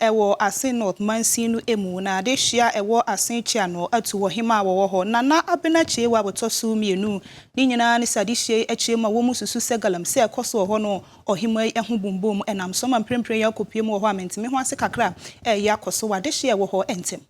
Ɛwɔ Asin North mansin no mu, na dehye a ɛwɔ Asin Kyea no, Atu wɔ hemmaa a wɔwɔ hɔ. Nana Abena Kyei-Wa bɔtɔ so mmienu. Ne nyinaa ne sɛ adehyeɛ yi akyire mu a wɔn mu susu sɛ galam sɛ ɛkɔ so wɔ hɔ no, ɔhemmaa yi ho bombom ɛnam so ma mprempren yi akɔpue mu wɔ hɔ a mente me ho ase kakra a ɛreyɛ akɔ so wɔ adehyeɛ a ɛwɔ hɔ ntɛm.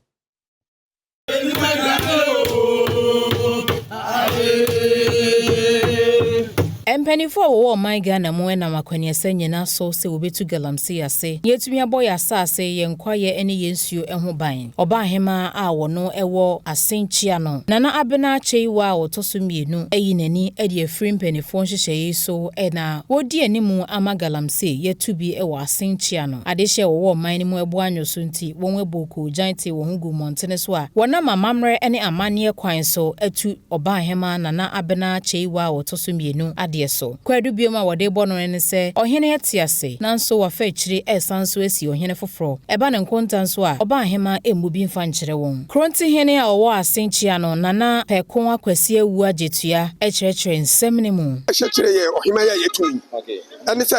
Mpanimfoɔ a wɔwɔ ɔman Ghana mu nam akwaniasa nyina so sɛ wɔbɛtu galamsey ase na yɛatumi abɔ yɛn asase, yɛn kwaeɛ ne yɛn nsuo ho ban. Ɔbaahemaa a wɔno wɔ Asenkyea no, Nana Abena Kyeiwa a ɔtɔ so mmienu ayi n'ani de afiri mpanimfoɔ nhyehyɛeɛ yi so na wɔredi animu ama galamsey yɛatu bi wɔ Asenkyea no. Adehyeɛ a wɔwɔ ɔman no mu boanyɔ so nti, wɔabɔ koogyan tee wɔn ho guu mmɔntene so a wɔnam amammerɛ ne amanneɛ kwan so atu Ɔbahema Nana Abena Kyeiwa a ɔtɔ so mmienu adeɛ so. Kwaadu biom a wɔde rebɔ no no ne sɛ ɔhene te ase nanso wafa akyiri resan nso asi ɔhene foforɔ. Ɛba ne nkonta nso a, Ɔbahema mmu bi mfa nkyerɛ wɔn. Korontehene a ɔwɔ Asenkyea no, Nana Pɛkoa Kwasi Awu Agyetua kyerɛkyerɛ nsɛm no mu. Ɛhyɛ kyerɛ yɛn ɔhemman yi a yɛatu no yi ne sɛ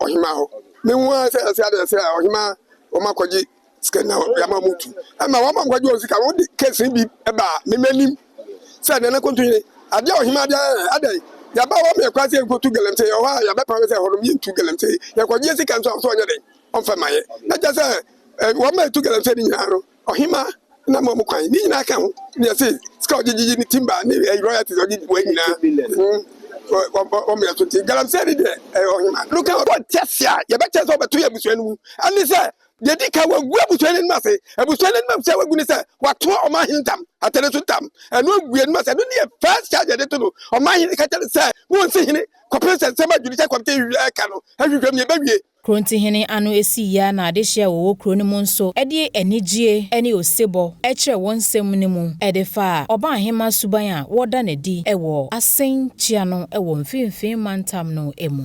ɔhemaa hɔ. Mehu ara sɛ ɛsɛ adeɛ sɛ ɔhemaa wɔn akɔgye sika na yɛama wɔn tu. Ɛma wɔn a wɔkɔgye wɔn sika no, wɔde kɛse bi baa me m'anim sɛ Nana Kontonye, adeɛ a ɔhemaa de ayɛ yɛn, adɛn? Yɛaba hɔ ma yɛn kwan sɛ yɛnkɔtu Galamsey, ɛwɔ hɔ a yɛbɛpam sɛ ɛhɔ nom yɛntu Galamsey. Yɛkɔgyeɛ sika nso a, ɔsɛ ɔnyɛ dɛn ɔmfa mma yɛn. Na kyerɛ sɛ wɔn a ɛtu Galamsey no nyinaa no, Ɔhemmaa no ama wɔn kwan. Ne nyinaa ka ho ne ɛsɛ sika a ɔgye gyegye ne timber ne ɛyɛ royalties a ɔgye bua nyinaa. Wɔn mmerɛ so nti galamsey ne deɛ ɛyɛ ɔhemmaa no ka ho. Wɔn nte ase a yɛbɛkyerɛ sɛ wɔbɛto yɛn abusua no mu ne sɛ deɛ edi kan wɔagu abusua no anim ase. Abusua no anim ase a wɔagu ne sɛ wɔato ɔmanhene ntam, atɛne so ntam. Ɛno agu anim ase. Ɛno ne yɛ first charge a yɛde to no. Ɔmanhene ka kyerɛ no sɛ wonsi hene kɔpem sɛ nsɛm a judicial committee reka no ahwehwɛ mu yɛbɛwie. Kurontihene ano sii yia na adehye a wɔwɔ kuro no mu nso de anigyie ne osebɔ kyerɛ wɔn nsɛm no mu de faa Ɔbaahemaa suban a wɔda no adi wɔ Asen kyia no wɔ Mfinfin Mantam no mu.